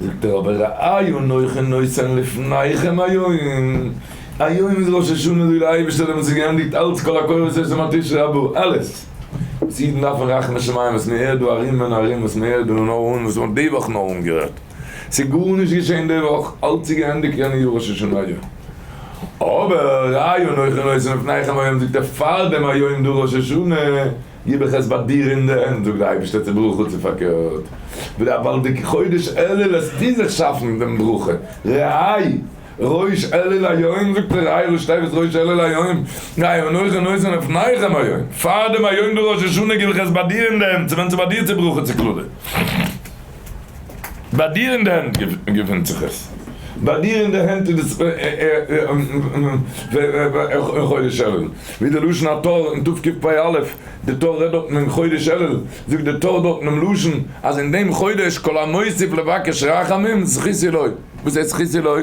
זאגט ער אבער רעי' נוחה נושא לפניכם היום, היום איז ראש השנה זאגט דער אייבערשטער האט אונז געענדיגט אלץ כל הקורות שיש לנו על תשרי הבא, אלעס וואס אידן דארפן רחמי שמים וואס מען הערט דא ארום און ארום וואס מען הערט דא נאר אן וואס מען האט די וואך נאר אנגעהערט ס'איז גארנישט געשען די וואך אלץ איז געענדיגט יענע יאר ראש השנה היום אבער רעי' נוחה נושא לפניכם היום זאגט ער פארדעם היום דא ראש השנה גיב איך עס ביי דיר אין די הענט, זאגט דער אייבערשטער צו ברוך הוא, צו פארקערט, ווי א באלדיגע חודש אלול העסטו זיך שאפן דעם ברכה, רעי ראש אלול היום, זאגט דער רעי ראש טבת ראש אלול היום, גיי און אויך און אויס און אויף נחם היום, פאר דעם היום דער ראש השנה גיב איך עס ביי דיר אין די הענט, צו ווען צו ביי דיר צו ברכה צו קללה. ביי דיר אין די הענט געפינט זיך עס. ביי דיר אין די הענט איז עס אין חודש אלול. ווי די לשון הטור אין תו' קפ פ א, די טור רעדט דארטן אין חודש אלול, זאגט די טור דארט אינעם לשון אז אין דעם חודש כל המוסיף לבקש רחמים זכות עילוי. וואס הייסט זכות עילוי?